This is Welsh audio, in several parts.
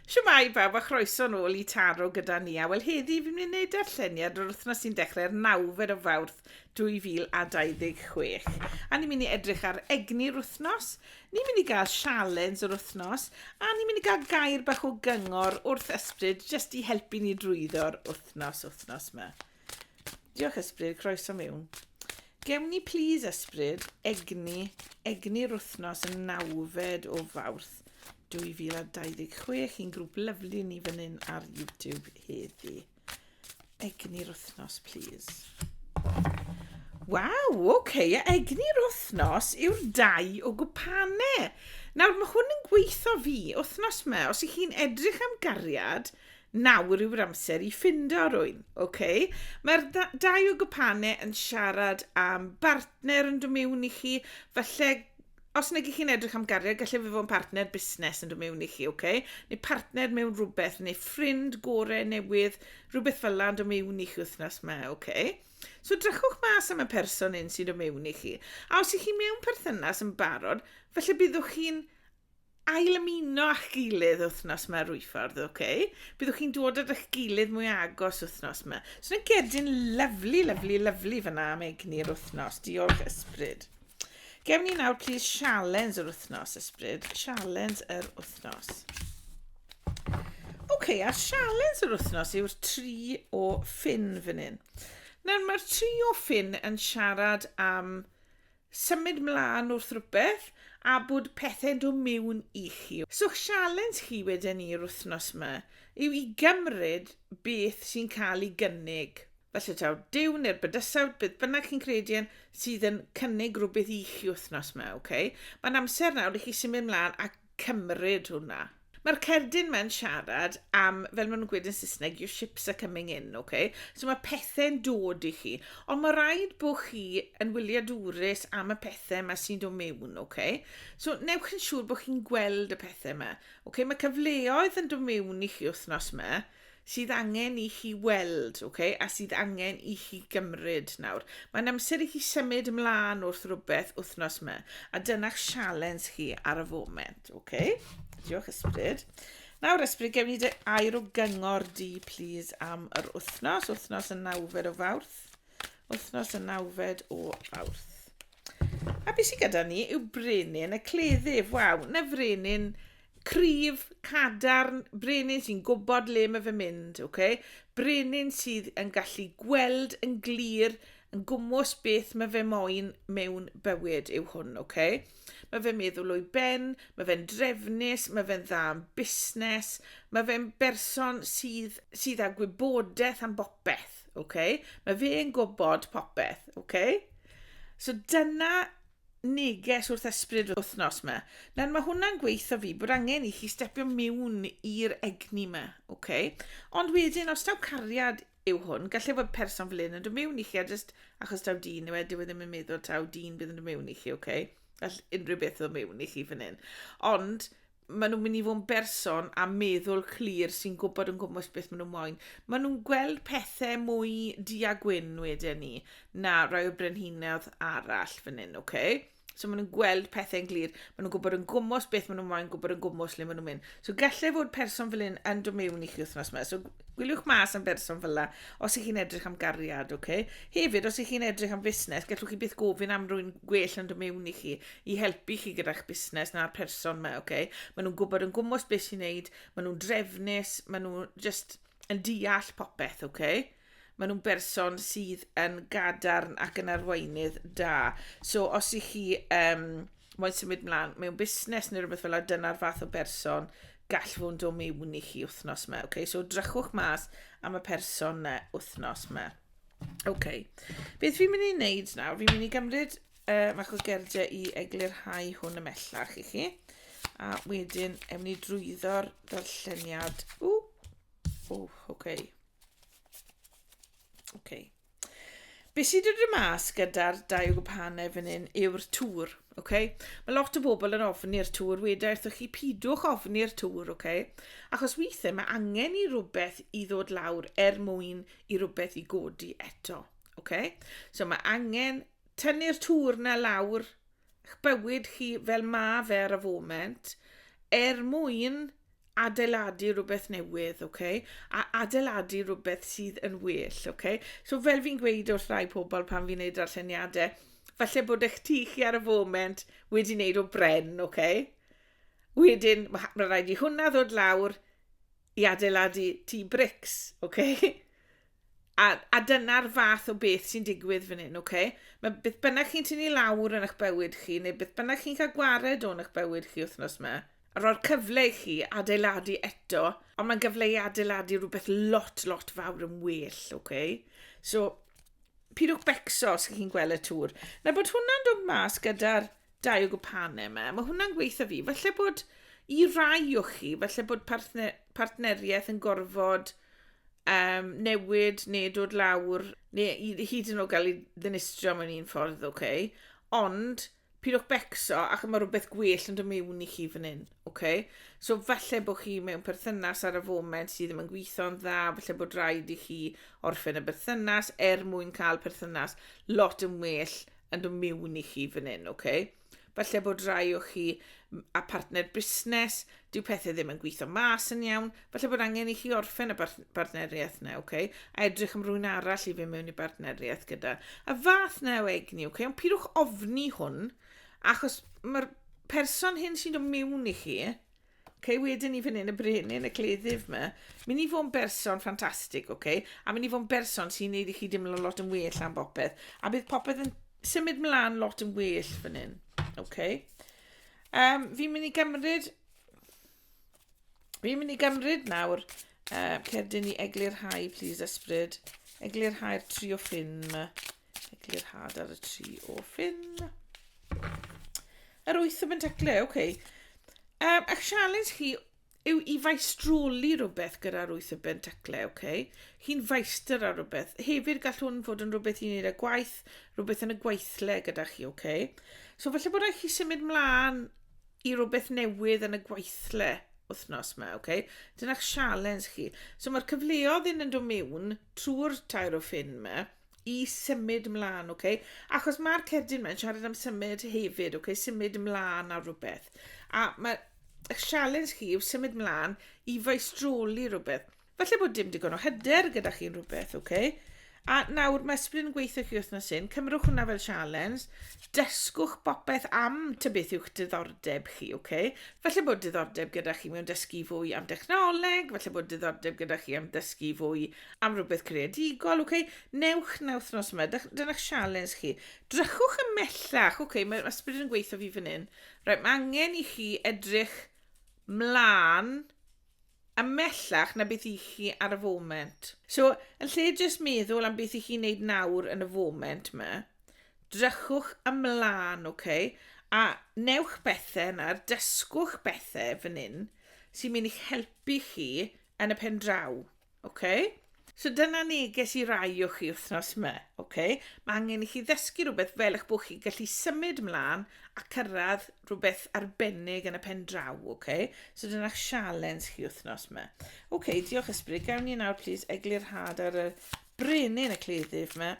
Shwmae bawb a chroeso nôl i Taro gyda ni a wel heddi fi'n mynd i wneud darlleniad o'r wythnos sy'n dechrau'r nawfed o Fawrth 2026 a ni'n mynd i edrych ar egni'r wythnos, ni'n mynd i gael sialens yr wythnos a ni'n mynd i gael gair bach o gyngor wrth ysbryd jyst i helpu ni drwyddo'r wythnos wythnos 'ma. Diolch Ysbryd, croeso mewn. Gewn ni plis Ysbryd, egni, egni'r wythnos yn nawfed o fawrth 2026 i'n grŵp lyflu ni fan hyn ar YouTube heddi. Egni'r wythnos, plis. Waw, oce, okay. egni'r wythnos yw'r dau o gwpane. Nawr, mae hwn yn gweithio fi, wythnos me, os ych chi'n edrych am gariad, Nawr yw'r amser i ffindo rwyn, ok? Mae'r dau o gwpane yn siarad am bartner yn dod mewn i chi, falle os nag ych chi'n edrych am gariad, gallai fe fod yn partner busnes yn dod mewn i chi, ok? Neu partner mewn rhywbeth, neu ffrind gore newydd, rhywbeth fel yna yn dod mewn i chi wythnos yma, ok? So drychwch mas am y person un sy'n dod mewn i chi. A os ych chi mewn perthynas yn barod, falle byddwch chi'n ail ymuno â'ch gilydd wythnos yma Rwyffordd, oce? Okay? Byddwch chi'n dod at eich gilydd mwy agos wythnos yma. So yna gedyn lyflu, lyflu, lyflu fyna am egni'r wythnos. Diolch ysbryd. Gewn ni nawr, please, sialens yr wythnos, ysbryd. Sialens yr wythnos. Oce, okay, a sialens yr wythnos yw'r tri o ffin fan hyn. Nawr, mae'r tri o ffin yn siarad am Symud mlan wrth rwbeth a bod pethe'n do miwn i chi. So 'ch sialens chi weden ni yr wthnos 'ma yw i gymryd beth sy'n cael i gynnig, falle taw Duw ne'r bydysawd, beth bynnag chi'n credu yn, sydd yn cynnig rwbeth i chi wthnos 'ma, ok? Mae'n amser nawr i chi symud mlan a cymryd hwnna. Mae'r cerdyn mae'n siarad am, fel maen nhw'n gweud yn Saesneg, your ships are coming in, oce? Okay? So mae pethau'n dod i chi. Ond mae rhaid bod chi yn wyliadwrus am y pethau yma sy'n dod mewn, oce? Okay? So newch yn siŵr bod chi'n gweld y pethau yma. Oce, okay? Mae cyfleoedd yn dod mewn i chi wythnos yma. sydd angen i chi weld, ok, a sydd angen i chi gymryd nawr. Mae'n amser i chi symud ymlaen wrth rhywbeth wythnos yma, a dyna'ch sialens chi ar y foment, ok? Diolch ysbryd. Nawr ysbryd, gewn ni dy air o gyngor di, please, am yr wythnos, wythnos y nawfed o fawrth. Wythnos y nawfed o fawrth. A beth sydd gyda ni yw brenin y cleddyf. Waw, na frenin Cryf, cadarn, brenin sy'n gwybod le mae fe'n mynd, ok? Brenin sydd yn gallu gweld yn glir, yn gwmws beth mae fe moyn mewn bywyd yw hwn, ok? Mae fe'n meddwl o'i ben, mae fe'n drefnus, mae fe'n dda yn busnes, mae fe'n berson sydd, sydd â gwybodaeth am bopeth, ok? Mae fe'n gwybod popeth, ok? So dyna neges wrth esbryd yr wythnos ma. Nawr mae hwnna'n gweithio fi bod angen i chi stepio miwn i'r egni ma, oce? Ond wedyn, os taw cariad yw hwn, gallai fod person fel un yn dod miwn i chi a jyst achos taw dyn yw e, dyw e ddim yn meddwl taw dyn bydd yn dod miwn i chi, oce? Gall unrhyw beth ddod miwn i chi fan hyn. Ond maen nhw'n mynd i fod yn berson a meddwl clir sy'n gwybod yn gwmwys beth maen nhw'n moyn. Maen nhw'n gweld pethau mwy di a gwyn wedyn ni na rai o brenhinoedd arall fan hyn, oce? Okay? So maen nhw'n gweld pethau'n glir, maen nhw'n gwybod yn gwmwys beth maen nhw'n moyn, gwybod yn gwmwys le maen nhw'n mynd. So gallai fod person fel hyn yn dod mewn i chi wythnos yma. So gwyliwch mas am berson fel la, os ych chi'n edrych am gariad, oce? Okay? Hefyd, os ych chi'n edrych am fusnes, gallwch chi byth gofyn am rwy'n gwell yn dod mewn i chi, i helpu chi gyda'ch busnes na'r person yma, ok? Maen nhw'n gwybod yn gwmwys beth sy'n neud, maen nhw'n drefnus, maen nhw just yn deall popeth, ok? Maen nhw'n berson sydd yn gadarn ac yn arweinydd da. So os i chi um, moyn symud mlaen mewn busnes neu rhywbeth fel yna, dyna'r fath o berson gall fod o mewn i chi wythnos yma. Okay? So drychwch mas am y person na wythnos yma. OK. Beth fi'n mynd i wneud nawr, fi'n mynd i gymryd uh, fach o gerdiau i eglurhau hwn ymellach i chi. A wedyn, ewn ni drwyddo'r darlleniad. O, o, oce. Okay. Oce. Okay. Be sydd wedi dod mas gyda'r dau gwpanau fan hyn yw'r tŵr, oce? Okay? Mae lot o bobl yn ofni'r tŵr, wedi wrthych chi pidwch ofni'r tŵr, oce? Okay? Achos weithiau mae angen i rhywbeth i ddod lawr er mwyn i rhywbeth i godi eto. Okay? So mae angen Tynnu'r tŵr 'na lawr 'ych bywyd chi fel ma' fe ar y foment, er mwyn adeiladu rhywbeth newydd, oce? A adeiladu rhywbeth sydd yn well, oce? So fel fi'n gweud wrth rai pobl pan fi'n neud darlleniadau, falle bod eich tŷ chi ar y foment wedi wneud o bren, oce? Wedyn, mae ma' raid i hwnna ddod lawr i adeiladu tŷ brics, oce? A, a dyna'r fath o beth sy'n digwydd fan hyn, oce? Okay? Mae beth bynnag chi'n tynnu lawr yn eich bywyd chi, neu beth bynnag chi'n cael gwared o'n eich bywyd chi wythnos yma, a roi'r cyfle i chi adeiladu eto, ond mae'n gyfle i adeiladu rhywbeth lot, lot fawr yn well, oce? Okay? So, pidwch becso os chi'n gweld y tŵr. Na bod hwnna'n dod mas gyda'r dau o gwpanau yma, mae hwnna'n gweithio fi. Falle bod i rai o chi, falle bod partner, partneriaeth yn gorfod um, newid neu dod lawr, neu hyd yn oed gael ei ddinistrio mewn un ffordd, oce. Okay? Ond, pidwch becso ac mae rhywbeth gwell yn dod mewn i chi fan hyn, oce? Okay? So falle bod chi mewn perthynas ar y foment sydd ddim yn gweithio'n dda, falle bod rhaid i chi orffen y berthynas er mwyn cael perthynas lot yn well yn dod mewn i chi fan hyn, oce? Okay? Falle bod rhai o chi a partner busnes, dyw pethau ddim yn gweithio mas yn iawn, falle bod angen i chi orffen y bartneriaeth na, okay? a edrych am rwy'n arall i fi mewn i bartneriaeth gyda. A fath na o egni, okay? ond pidwch ofni hwn, achos mae'r person hyn sy'n dod mewn i chi, Ok, wedyn ni fan hyn y brenin, y cleddyf yma. Mynd i fod yn berson ffantastig, ok? A mynd i fod yn berson sy'n neud i chi dimlo lot yn well am bopeth. A bydd popeth yn symud mlaen lot yn well fan hyn, ok? Um, fi'n mynd i gymryd... Fi'n mynd i gymryd nawr uh, cerdyn i eglurhau, please, ysbryd. Eglurhau'r tri o ffin yma. Eglurhad ar y tri o ffin. Yr wyth o bentaclau, oce. Okay. Um, a'ch sialens chi yw i faistroli rhywbeth gyda'r wyth o bentaclau, oce? Okay? Chi'n faistr ar rhywbeth. Hefyd gall hwn fod yn rhywbeth i'n wneud â gwaith, rhywbeth yn y gweithle gyda chi, oce? Okay? So falle bod eich chi symud mlaen i rhywbeth newydd yn y gweithle wythnos yma, oce? Okay? Dyna'ch sialens chi. So mae'r cyfleodd yn yn dod mewn trwy'r tair o ffin yma, i symud mlaen, ok? Achos mae'r cerdyn mae'n siarad am symud hefyd, ok? Symud mlaen ar rhywbeth. A mae y sialens chi yw symud mlaen i faistroli rhywbeth. Falle bod dim digon o hyder gyda chi'n rhywbeth, ok? A nawr mae Splin yn gweithio chi wythnos hyn, cymrwch hwnna fel sialens, dysgwch bopeth am ty beth yw'ch diddordeb chi, ok? Falle bod diddordeb gyda chi mewn dysgu fwy am dechnoleg, falle bod diddordeb gyda chi am dysgu fwy am rywbeth creadigol, ok, newch na wythnos yma, dyna'ch sialens chi. Drychwch ymellach, ok, mae'r ysbryd yn gweithio fi fan hyn. Right, mae angen i chi edrych mlaen ymellach na beth i chi ar y foment. So, yn lle jyst meddwl am beth i chi wneud nawr yn y foment yma, drychwch ymlaen, ok, a newch bethau yna, dysgwch bethau fan hyn sy'n mynd i'ch helpu chi yn y pen draw. Oce? So dyna neges i rai o chi wythnos yma, oce? Mae angen i chi ddysgu rhywbeth fel eich bod chi'n gallu symud mlaen a cyrraedd rhywbeth arbennig yn y pen draw, oce? So dyna sialens chi wythnos yma. Oce, diolch ysbryd. Gawn ni nawr, plis, eglurhad ar y brenin y cleddyf yma.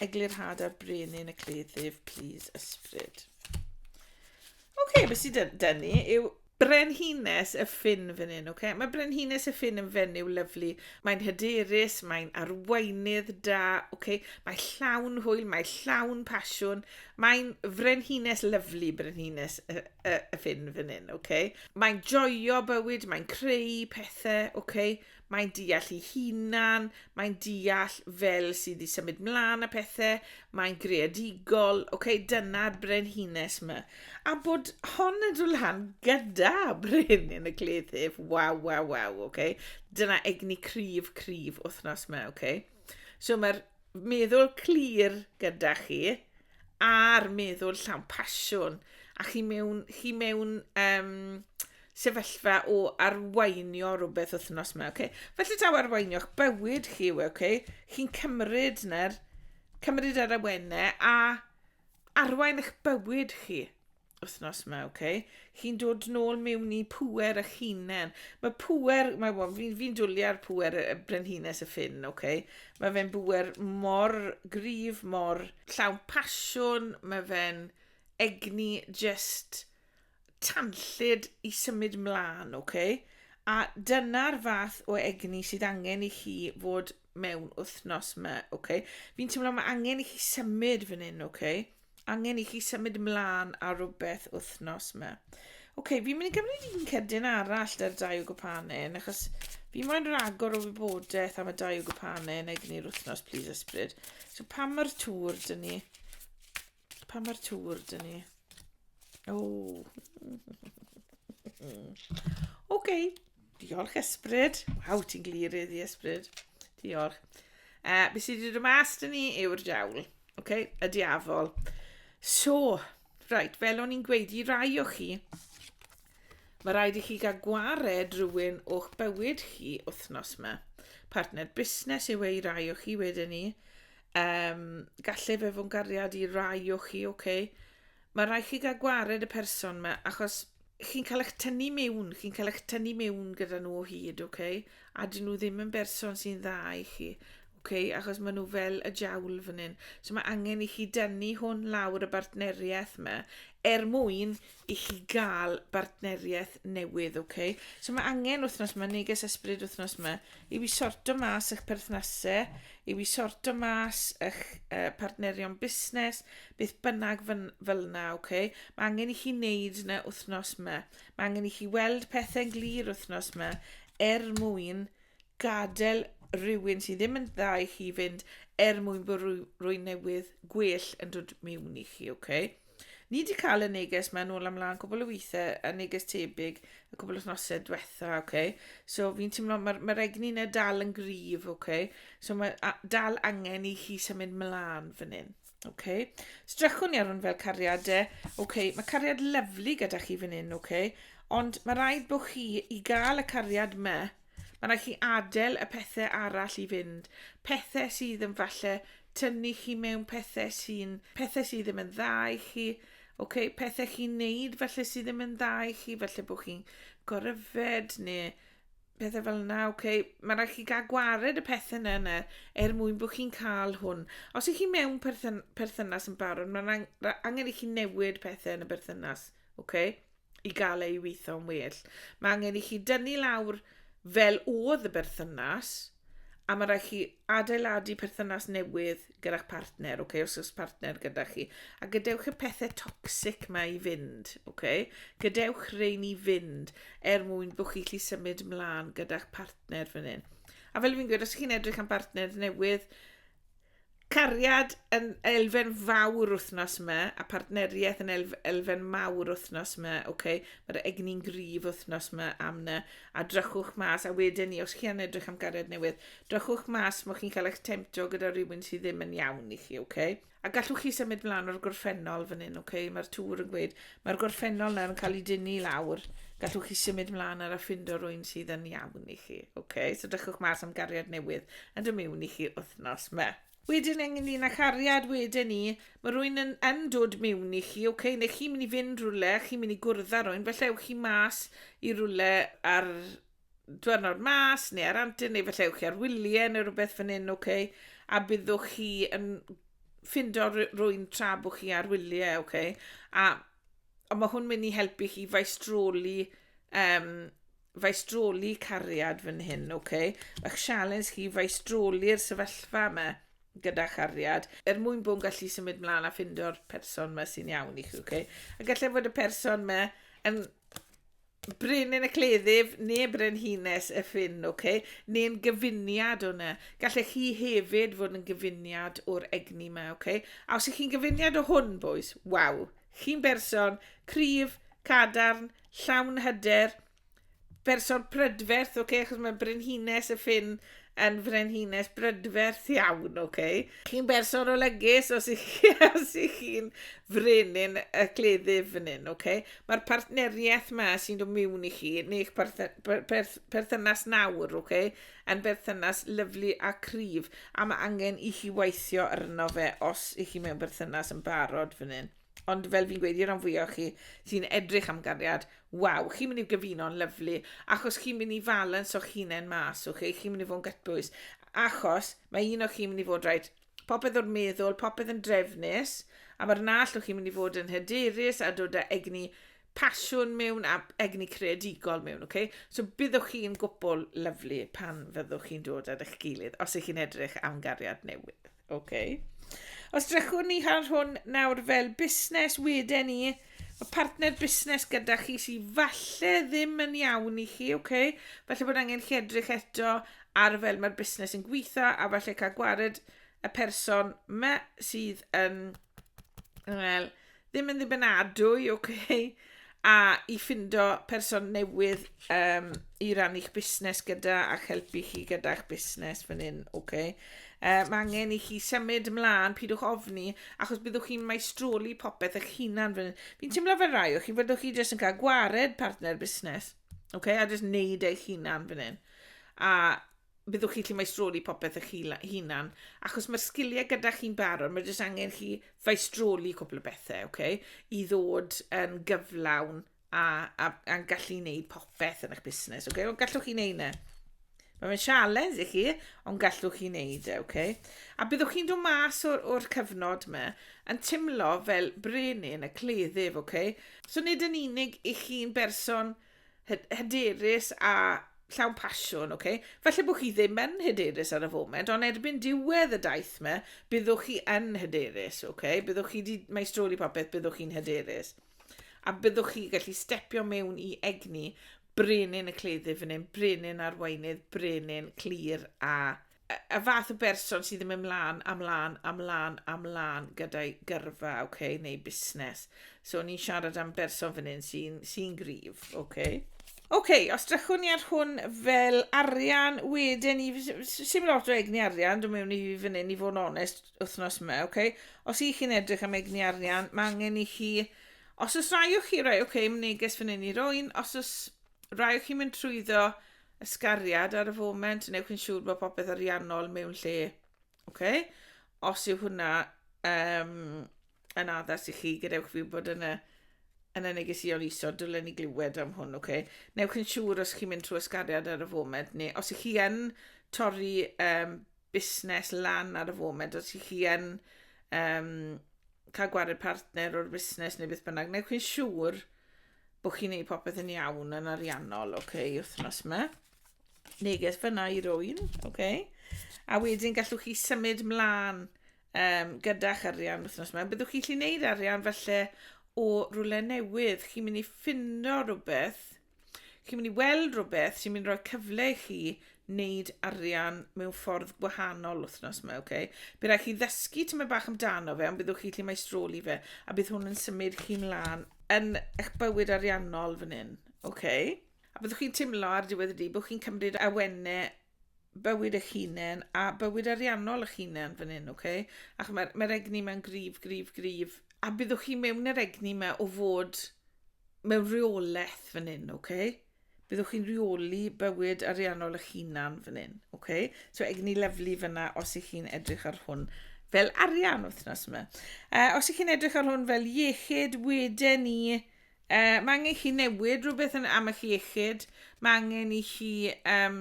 Eglurhad ar brenin y cleddyf, plis, ysbryd. Oce, okay, beth sydd dyn ni yw Brenhines y Ffin fan hyn, ok? Mae Brenhines y Ffin yn fenyw lyflu. Mae'n hyderus, mae'n arweinydd da, ok? Mae llawn hwyl, mae llawn pasiwn. Mae'n frenhines lyflu, Brenhines y, y, y Ffin fan hyn, ok? Mae'n joio bywyd, mae'n creu pethau, ok? mae'n deall ei hunan, mae'n deall fel sydd wedi symud mlaen a pethau, mae'n greadigol, oce, okay, dyna'r brenhines yma. A bod hon yn dod lan gyda brenin y cleddyf, waw, waw, waw, oce. Okay. Dyna egni cryf, cryf wythnos yma, oce. Okay. So mae'r meddwl clir gyda chi a'r meddwl llawn pasiwn a chi mewn, chi mewn um, sefyllfa o arweinio rhywbeth wythnos yma, okay? Felly taw arweinio'ch bywyd chi yw, e, okay? Chi'n cymryd na'r, cymryd yr awennau a arwain eich bywyd chi wythnos yma, okay? Chi'n dod nôl mewn i pwer eich hunain. Mae pwer, mae well, fi'n fi dwlu ar pwer y brenhines y ffyn, okay? Mae fe'n bwer mor grif, mor llawn pasiwn, mae fe'n egni just tanllyd i symud mlaen, ok? A dyna'r fath o egni sydd angen i chi fod mewn wythnos yma, ok? Fi'n teimlo mae angen i chi symud fan hyn, ok? Angen i chi symud mlaen ar rhywbeth wythnos yma. Ok, fi'n mynd i gymryd un cydyn arall da'r dau o gwpanyn, achos fi moyn rhagor o wybodaeth am y dau o gwpanyn egni'r wythnos, please ysbryd. So pa mae'r tŵr dyn ni? Pan mae'r tŵr dyn ni. O. OK. Diolch, Esbryd. Waw, ti'n glir iddi, Esbryd. Diolch. Uh, be sydd wedi dod mas dyn ni yw'r diawl. OK, y diafol. So, right, fel o'n i'n gweud i rai o chi, mae rhaid i chi gael gwared rhywun o'ch bywyd chi wythnos yma. Partner busnes yw ei rai o chi wedyn ni. Um, gallu fe fod gariad i rai o chi, oce. Okay. Mae rai chi gael gwared y person yma, achos chi'n cael eich tynnu mewn, chi'n cael eich tynnu mewn gyda nhw o hyd, oce. Okay. A dyn nhw ddim yn berson sy'n dda i chi, oce, okay. achos maen nhw fel y jawl fan hyn. So mae angen i chi dynnu hwn lawr y bartneriaeth yma, er mwyn i chi gael bartneriaeth newydd, oce? Okay? So mae angen wythnos yma, neges ysbryd wythnos yma, i fi sorto mas eich perthnasau, i fi sorto mas eich uh, partnerion busnes, beth bynnag fel yna, oce? Okay? Mae angen i chi wneud yna wythnos yma. Mae angen i chi weld pethau'n glir wythnos yma er mwyn gadael rhywun sydd ddim yn dda i chi fynd er mwyn bod rhywun newydd gwell yn dod mewn i chi, oce? Okay? Ni di cael y neges mae'n ôl amlaen cwbl o weithiau, y neges tebyg, y cwbl wythnosau diwetha, oce. Okay? So fi'n teimlo, mae'r ma egni yna dal yn grif, oce. Okay? So mae dal angen i chi symud mlaen fan hyn. Oce. Okay. Strachwn i ar hwn fel cariad e. Oce, okay. mae cariad lyflu gyda chi fan hyn, oce. Okay. Ond mae rhaid bod chi i gael y cariad me Mae'n rhaid chi adael y pethau arall i fynd. Pethau sydd yn falle tynnu chi mewn pethau sy'n pethau sydd ddim yn dda i chi. Oce, pethau chi'n neud falle sydd ddim yn dda i chi, falle bod chi'n goryfed neu pethau fel yna, oce. Mae'n rhaid chi gael gwared y pethau yna yna er mwyn bod chi'n cael hwn. Os ych chi mewn perthyn perthynas yn barod, mae'n angen i chi newid pethau yn y berthynas, oce? i gael ei weithio'n well. Mae angen i chi dynnu lawr fel oedd y berthynas, a mae rhaid chi adeiladu perthynas newydd gyda'ch partner, okay? os oes partner gyda chi. A gadewch y pethau toxic mae i fynd, okay? gadewch rein i fynd er mwyn bod chi'n lli symud mlaen gyda'ch partner fan hyn. A fel fi'n gweud, os chi'n edrych am bartner newydd, Cariad yn elfen fawr wythnos yma, a partneriaeth yn elf, elfen mawr wythnos yma, oce, okay? mae'r egni'n grif wythnos yma am na, a drychwch mas, a wedyn ni, os chi yn edrych am gariad newydd, drychwch mas mo chi'n cael eich temtio gyda rhywun sydd ddim yn iawn i chi, oce? Okay? A gallwch chi symud mlaen o'r gorffennol fan hyn, oce? Okay? Mae'r tŵr yn gweud, Mae'r gorffennol nawr yn cael ei dynnu i lawr. Gallwch chi symud mlaen ar a ffindo rwy'n sydd yn iawn i chi. Ok, so dychwch mas am gariad newydd a dw miwn i chi wythnos ma. Wedyn ynglyn â chariad, weden i, mae rwy'n yn yn dod miwn i chi, ok, neu chi'n mynd i fynd rhywle, chi'n mynd i gwrdd â rwy'n, falle ewch chi mas i rhywle ar dwyrnod mas, neu ar antur, neu felly ewch chi ar wyliau, neu rhywbeth fan hyn, ok? A byddwch chi yn ffindo rwy'n tra bod chi ar wyliau, ok? A, a mae hwn mynd i helpu chi faistroli, um, faistroli cariad fan hyn, ok? Mae'ch sialens chi faistroli'r sefyllfa yma gyda chariad, er mwyn bod yn gallu symud mlaen a ffindo'r person yma sy'n iawn i chi, ok? A gallai fod y person yma yn Brenin y Cleddyf neu Brenhines y Ffin, ok? Neu'n gyfuniad o hwnna. Gallech chi hefyd fod yn gyfuniad o'r egni yma, ok? A os ych chi'n gyfuniad o hwn, boys, waw, chi'n berson cryf, cadarn, llawn hyder, berson prydferth, ok? Achos mae Brenhines y Ffin yn frenhines brydferth iawn, ok? Chi'n berson olygus os ych chi, os ych chi'n frenin y cleddyf fan hyn, ok? Mae'r partneriaeth yma sy'n dod mewn i chi, neu'ch perthynas nawr, ok? Yn berthynas lyflu a cryf, a mae angen i chi weithio arno fe os ych chi mewn berthynas yn barod fan hyn. Ond fel fi'n gweud i ran fwyaf o chi sy'n edrych am gariad, waw, chi'n mynd i gyfuno'n lyflu, achos chi'n mynd i falans o'ch hunain mas, okay? chi'n mynd i fod yn gytbwys, achos mae un o chi'n mynd i fod rhaid popeth o'r meddwl, popeth yn drefnus, a mae'r nall o chi'n mynd i fod yn hyderus a dod â egni pasiwn mewn a egni creadigol mewn, okay? So byddwch chi'n gwbl lyflu pan fyddwch chi'n dod ar eich gilydd, os ych chi'n edrych am gariad newydd. OK. Os drychwn ni ar hwn nawr fel busnes wedyn ni, y partner busnes gyda chi sy'n falle ddim yn iawn i chi, OK. Falle bod angen chi edrych eto ar fel mae'r busnes yn gweithio a falle cael gwared y person me sydd yn Wel, ddim yn ddibynadwy, oce, okay, a i ffindo person newydd um, i rannu'ch busnes gyda a'ch helpu chi gyda'ch busnes fan hyn, oce. Okay. Uh, mae angen i chi symud ymlaen, pidwch ofni, achos byddwch chi'n maestroli popeth eich hunan fan hyn. Fi'n teimlo fel rai o chi, fyddwch chi jyst yn cael gwared partner busnes, oce, okay, a jyst neud eich hunan fan hyn. A byddwch chi gallu maestroli popeth eich hunan, achos mae'r sgiliau gyda chi'n barod, mae jyst angen chi faestroli cwbl o bethau, oce, okay? i ddod yn gyflawn a, a, a gallu wneud popeth yn eich busnes, oce, okay? ond gallwch chi wneud yna. E. Mae fe'n sialens i chi, ond gallwch chi wneud e, oce? Okay? A byddwch chi'n dod mas o'r, or cyfnod yma yn timlo fel brenin y cleddyf, oce? Okay? So nid yn unig i chi'n berson hyderus a llawn pasiwn, oce? Okay? Falle bod chi ddim yn hyderus ar y foment, ond erbyn diwedd y daith me, byddwch chi yn hyderus, oce? Okay? Byddwch chi wedi maestroli popeth, byddwch chi'n hyderus. A byddwch chi gallu stepio mewn i egni brenin y cleddyf fan hyn, brenin arweinydd, brenin clir a y fath o berson sydd ddim ymlaen, amlaen, amlaen, amlaen gyda'i gyrfa, okay, neu busnes. So, ni'n siarad am berson fan hyn sy'n sy gryf, okay. OK, os drychwn ni ar hwn fel arian, wedyn ni, sy'n lot o egni arian, dwi'n mewn i fan hyn i fod yn onest wythnos yma, OK? Os i chi'n edrych am egni arian, mae angen i chi, os oes rai o chi, rai, OK, neges fan hyn i roi'n, os oes rai o chi'n mynd trwyddo, ysgariad ar y foment, newch yn siŵr bod popeth ariannol mewn lle. Okay? Os yw hwnna um, yn addas i chi, gadewch fi bod yn y, yn y negesion isod, dylen ni glywed am hwn. Okay? Newch yn siŵr os chi'n mynd trwy ysgariad ar y foment, neu os ych chi yn torri um, busnes lan ar y foment, os ych chi yn um, cael gwared partner o'r busnes neu beth bynnag, neu chi'n siŵr bod chi'n neud popeth yn iawn yn ariannol, oce, okay, wythnos yma. Neges fyna i rwy'n, oce. Okay. A wedyn gallwch chi symud mlaen um, gyda'ch arian wythnos yma. Byddwch chi'n gallu gwneud arian falle o rhywle newydd. Chi'n mynd i ffindo rhywbeth chi'n mynd i weld rhywbeth sy'n mynd i roi cyfle i chi wneud arian mewn ffordd gwahanol wythnos yma, oce? Okay? Bydd rhaid chi ddysgu tyma bach amdano fe, ond byddwch chi lle mae stroli fe, a bydd hwn yn symud chi'n lan yn eich bywyd ariannol fan hyn, oce? Okay? A byddwch chi'n teimlo ar diwedd y dydd bod chi'n cymryd awennau bywyd eich hunain a bywyd ariannol eich hunain fan hyn, ok? Ac mae'r mae egni mewn grif, grif, grif. A byddwch chi mewn yr egni mae o fod mewn rheolaeth fan hyn, ok? Byddwch chi'n rheoli bywyd ariannol eich hunan fan hyn, ok? So egni lyflu fyna os ych chi'n edrych ar hwn fel arian wythnos yma. Uh, os ych chi'n edrych ar hwn fel iechyd, wedyn ni Yy, mae angen chi newid rhywbeth yn am eich iechyd. Mae angen i chi um,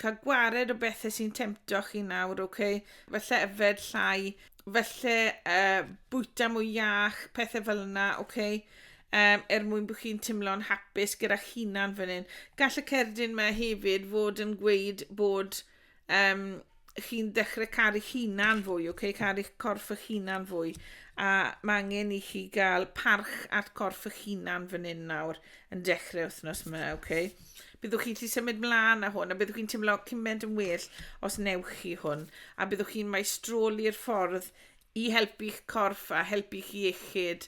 cael gwared o bethau sy'n temtio chi nawr, oce? Okay? Felly yfed llai, felly uh, bwyta mwy iach, pethau fel yna, oce? Okay? um, er mwyn bod chi'n teimlo'n hapus gyda'ch hunan fan hyn. Gall y cerdyn yma hefyd fod yn gweud bod um, chi'n dechrau caru hunan fwy, oce, okay? caru corff eich hunan fwy. A mae angen i chi gael parch at corff eich hunan fan hyn nawr yn dechrau wythnos yma, oce? Okay? Byddwch chi wedi symud mlaen â hwn, a byddwch chi'n teimlo cymaint yn well os newch chi hwn, a byddwch chi'n maestroli'r ffordd i helpu'ch corff a helpu chi iechyd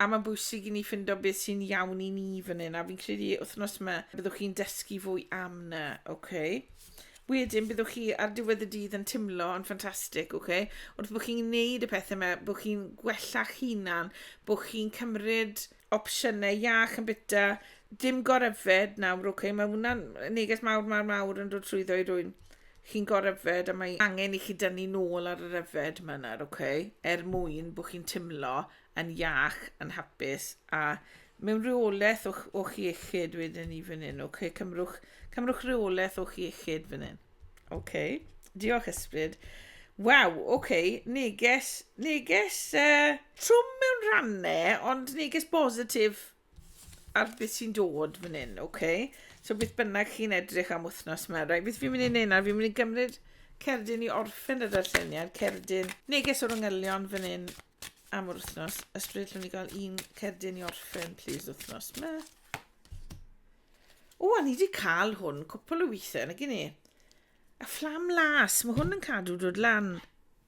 A mae'n bwysig i ni ffindo beth sy'n iawn i ni fan hyn, a fi'n credu wythnos yma byddwch chi'n dysgu fwy am na, oce? Okay? Wedyn byddwch chi ar diwedd y dydd yn timlo yn ffantastig, oce? Okay? Wrth bod chi'n gwneud y pethau yma, bod chi'n gwella'ch hunan, bod chi'n cymryd opsiynau iach yn byta, dim goryfed nawr, oce? Okay? Mae hwnna'n neges mawr, mawr, mawr yn dod trwyddo i rwy'n chi'n goryfed a mae angen i chi dynnu nôl ar yr yfed yma nawr, oce? Okay? Er mwyn bod chi'n timlo yn iach, yn hapus a mewn rheolaeth o'ch, o'ch iechyd wedyn ni fan hyn. Okay, cymrwch, cymrwch rheolaeth o'ch iechyd fan hyn. Okay, diolch ysbryd. Waw, oce, okay. neges, neges uh, trwm mewn rannau, ond neges bositif ar beth sy'n dod fan hyn, oce? Okay? So beth bynnag chi'n edrych am wythnos yma, rai, beth fi'n mynd i wneud nawr, fi'n mynd i gymryd cerdyn i orffen y darlleniad, cerdyn neges o'r yngylion fan hyn, am yr wythnos. Ysbryd, llwn i gael un cerdyn i orffen, please, wythnos yma. O, a ni wedi cael hwn cwpl o weithiau, na gyn ni. A fflam las, mae hwn yn cadw dod lan.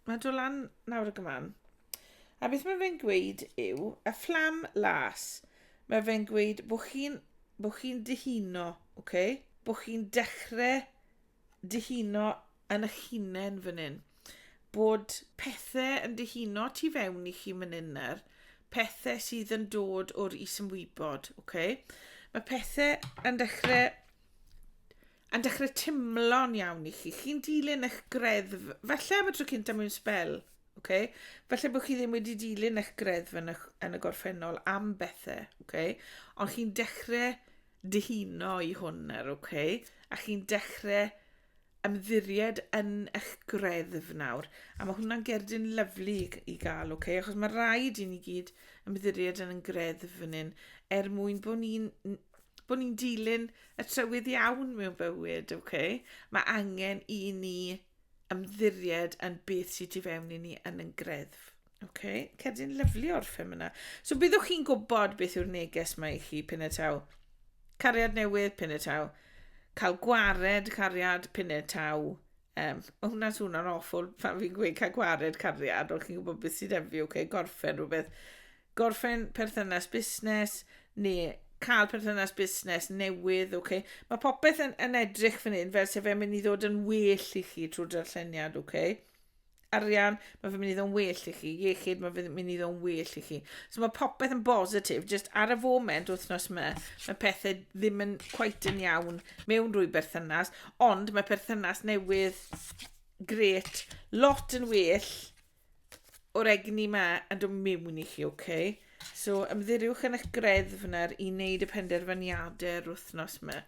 Mae dod lan nawr y gyman. A beth mae fe'n gweud yw, a fflam las, mae fe'n gweud bod chi'n bo chi dyhuno, okay? bod chi'n dechrau dyhuno yn eich hunain fan hyn. Bod pethau yn dyhuno tu fewn i chi fan hyn nawr. Pethau sydd yn dod o'r isymwybod, oce? Okay? Mae pethau yn dechrau yn dechrau timlo'n iawn i chi. Chi'n dilyn eich greddf, falle am y tro cyntaf mewn spel, okay? falle bod chi ddim wedi dilyn eich greddf yn y, yn y gorffennol am bethau, okay? ond chi'n dechrau dyhuno i hwn nawr, okay? a chi'n dechrau ymddiried yn eich greddf nawr. A mae hwnna'n gerdyn lyflu i gael, oce? Okay? Achos mae rhaid i ni gyd ymddiried yn yn greddf fan hyn, er mwyn bod ni'n bod ni'n dilyn y trywydd iawn mewn bywyd, oce? Okay? Mae angen i ni ymddiried yn beth sydd tu fewn i ni yn yn greddf. OK, cedyn lyflu o'r ffilm yna. So byddwch chi'n gwybod beth yw'r neges mae i chi pyn y taw. Cariad newydd, pyn y taw. Cael gwared cariad, pyn y taw. Um, o hwnna swn o'n awful pan fi'n gweud cael gwared cariad, ond chi'n gwybod beth sydd efi, okay, gorffen rhywbeth. Gorffen perthynas busnes, neu cael perthynas busnes newydd, oce. Okay. Mae popeth yn, yn edrych fan hyn fel sef e'n mynd i ddod yn well i chi trwy darlleniad, oce. Okay. arian, mae fe'n mynd i ddo'n well i chi, iechyd, mae fe'n mynd i ddo'n well i chi. So mae popeth yn bositif, jyst ar y foment wythnos yma, mae pethau ddim yn quite yn iawn mewn rwy berthynas, ond mae perthynas newydd gret, lot yn well o'r egni yma yn dod mewn i chi, oce? Okay? So ymddiriwch yn eich greddf yna i wneud y penderfyniadau yr wythnos yma.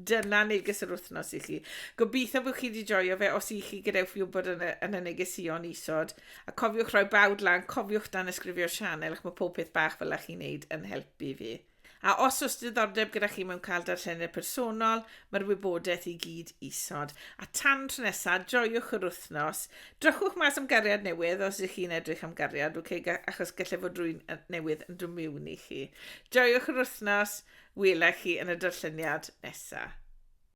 Dyna neges yr wythnos i chi. Gobeithio bod chi wedi joio fe os i chi gadewch fi wybod yn y, yn y negesion isod. A cofiwch rhoi bawd lan, cofiwch dan ysgrifio'r sianel ac mae pob peth bach fel ych chi'n neud yn helpu fi. A os oes diddordeb gyda chi mewn cael darllenir personol, mae'r wybodaeth i gyd isod. A tan tro nesaf, joiwch yr wythnos, Drychwch mas am gariad newydd os ydych chi'n edrych am gariad, ok, achos gallai fod rwy'n newydd yn dod miwn i chi. Joiwch yr wythnos, wela chi yn y darlleniad nesaf.